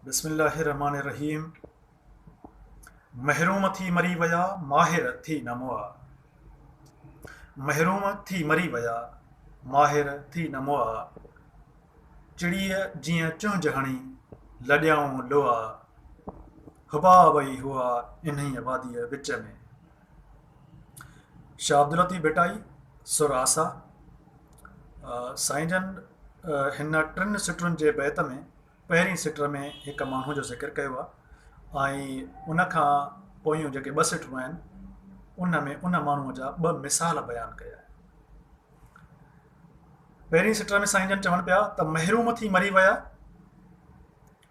بسم الله الرحمٰن الرحيم محروم ٿي مري ويا ماهر ٿي نه مئا محروم ٿي مري ويا ماهر ٿي نه مئا چڙيء جيئن چهنج هڻي لڏيائون لئا حبا وئي هئا انهيء واديء وچ ۾. شاهه عبداللطيف ڀٽائي، سر آسا، سائين جن هن ٽن سٽرن جي بيت ۾ پهرين سٽر ۾ هڪ ماڻهو جو ذڪر ڪيو آهي ۽ ان کان پويون جيڪي ٻه سٽرون آهن ان ۾ ان ماڻهوء جا ٻه مثال بيان ڪيا آهن پهرين سٽر ۾ سائين جن چون پيا ته محروم ٿي مري ويا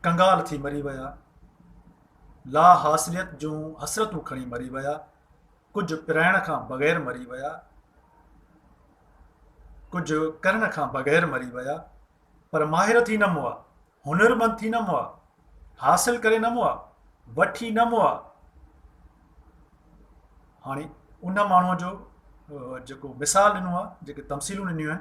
ڪنگال ٿي مري ويا لا حاصليت جون حسرتون کڻي مري ويا، ڪجهه پرائڻ کان بغير مري ويا، ڪجهه ڪرڻ کان بغير مري ويا، پر ماهر ٿي نه مئا، هنرمند ٿي نه مئا، حاصل ڪري نه مئا، وٺي نه مئا. هاڻي ان ماڻهوء جو جيڪو مثال ڏنو آهي، جيڪي تمثيلون ڏنيون آهن،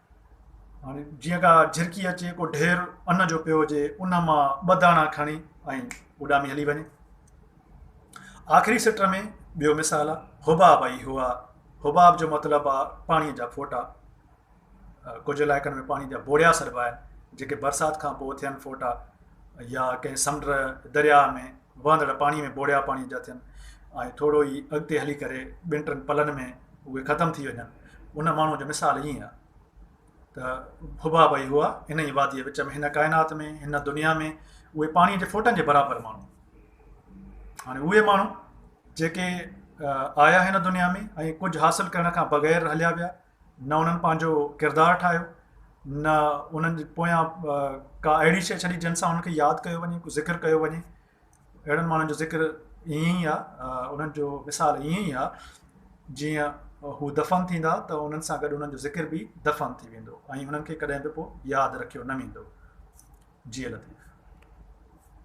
هاڻي جيئن ڪا جھرڪي اچي ڪو ڍير ان جو پيو هجي ان مان ٻه داڻا کڻي ۽ اڏامي هلي وڃي آخري سٽ ۾ ٻيو مثال آ حباب اي هو آ حباب جو مطلب آ پاڻي جا ڦوٽا ڪجهه علائقن ۾ پاڻي جا بوڙيا سڏبا آهن جيڪي برسات کان پوء ٿين ڦوٽا يا ڪنهن سمنڊ، درياهه، ۾ وهندڙ پاڻي ۾ ٻوڙيا پاڻي جا ٿين ۽ ٿورو ئي اڳتي هلي ڪري ٻن ٽن پلن ۾ اهي ختم ٿي وڃن. ان ماڻهوء جو مثال ائين آهي ته ڀڀا ڀئي هئا، هن ئي واديء وچ ۾، هن ڪائنات ۾، هن دنيا ۾، اهي پاڻيء جي ڦوٽن جي برابر ماڻهو. هاڻي اهي ماڻهو جيڪي آيا هن دنيا ۾ ۽ ڪجهه حاصل ڪرڻ کان بغير هليا ويا، نه انهن پنهنجو ڪردار ٺاهيو نه انهن جي پويان ڪا اهڙي شيء ڇڏي جنهن سان انهن کي ياد ڪيو وڃي ڪو ذڪر ڪيو وڃي اهڙن ماڻهن جو ذڪر ائين ئي آهي انهن جو مثال ائين ئي آهي جيئن هو دفن ٿيندا ته انهن سان گڏ انهن جو ذڪر به دفن ٿي ويندو ۽ انهن کي ڪڏهن به پوء ياد رکيو نه ويندو جي لطيف